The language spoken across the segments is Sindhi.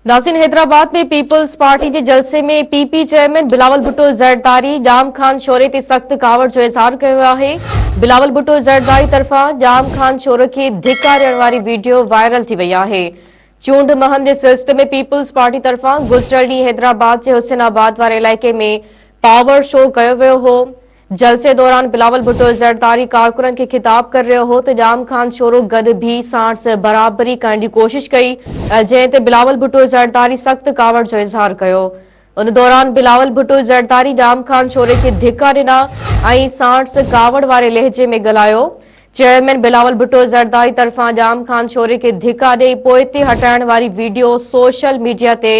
ناظرين حيدرآباد ۾ پيپلز پارٽي جي جلسي ۾ P P chairman Bilawal Bhutto Zardari Jam Khan Shoro تي سخت ڪاوڙ جو اظهار ڪيو آهي بلاول ڀٽو زرداري طرفان ڄام خان شوري کي ڌڪاريڻ واري ويڊيو وائرل ٿي وئي آهي چونڊ مهم جي سلسلي ۾ پيپلز پارٽي طرفان گذريل ڏينهن حيدرآباد جي حسين آباد واري علائقي ۾ پاور شو ڪيو ويو هو جلسي دوران بلاول ڀٽو زرداري ڪارڪنن کي خطاب ڪري رهيو هو ته ڄام خان شورو گڏ بيهي ساڻس برابري ڪرڻ جي ڪوشش ڪئي جنهن تي بلاول ڀٽو زرداري سخت ڪاوڙ جو اظهار ڪيو ان دوران بلاول ڀٽو زرداري ڄام خان شوري کي ڌڪا ڏنا ۽ ساڻس ڪاوڙ واري لهجي ۾ ڳالهايو چيئرمين بلاول ڀٽو زرداري طرفان ڄام خان شوري کي ڌڪا ڏئي پوئتي هٽائڻ واري ويڊيو سوشل ميڊيا تي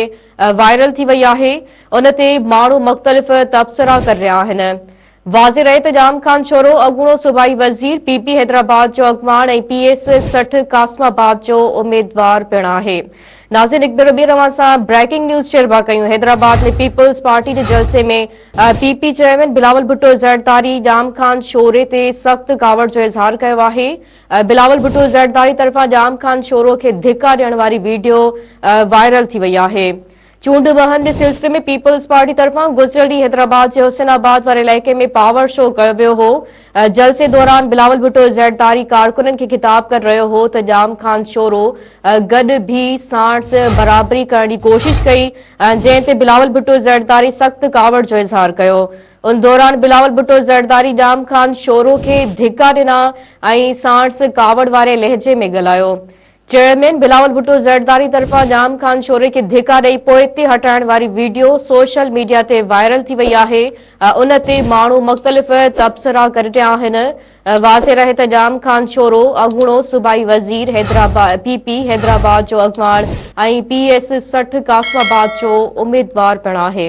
وائرل ٿي وئي آهي ان تي ماڻهو مختلف تبصرا ڪري رهيا آهن واضح رهي ته ڄام خان شورو اڳوڻو صوبائي وزير پي پي حيدرآباد جو اڳواڻ ۽ پي ايس سٺ قاسم آباد جو اميدوار پڻ آهي ناظرين هڪ ڀيرو ٻيهر اوهان سان بريڪنگ نيوز شيئر پيا ڪيون حيدرآباد ۾ پيپلز پارٽي جي جلسي ۾ P P chairman Bilawal Bhutto Zardari Jam Khan Shoro تي سخت ڪاوڙ جو اظهار ڪيو آهي بلاول ڀٽو زرداري طرفان ڄام خان شورو کي ڌڪا ڏيڻ واري ويڊيو وائرل ٿي وئي آهي. چونڊ وهن جي سلسلي ۾ پيپلز پارٽي طرفان گذريل ڏينهن حيدرآباد جي حسين آباد واري علائقي ۾ پاور شو ڪيو ويو هو. جلسي دوران بلاول ڀٽو زرداري ڪارڪنن کي خطاب ڪري رهيو هو ته ڄام خان شورو گڏ بيهي ساڻس برابري ڪرڻ جي ڪوشش ڪئي جنهن تي بلاول ڀٽو زرداري سخت ڪاوڙ جو اظهار ڪيو. ان دوران بلاول ڀٽو زرداري ڄام خان شورو کي ڌڪا ڏنا ۽ ساڻس ڪاوڙ واري لهجي ۾ ڳالهايو. چيئرمين بلاول ڀٽو زرداري طرفان ڄام خان شوري کي ڌڪا ڏئي پوئتي هٽائڻ واري ويڊيو سوشل ميڊيا تي وائرل ٿي وئي آهي ۽ ان تي ماڻهو مختلف تبصرا ڪري رهيا آهن. واضح رهي ته ڄام خان شورو اڳوڻو صوبائي وزير، پي پي حيدرآباد جو اڳواڻ ۽ پي ايس سٺ قاسم آباد جو اميدوار پڻ آهي.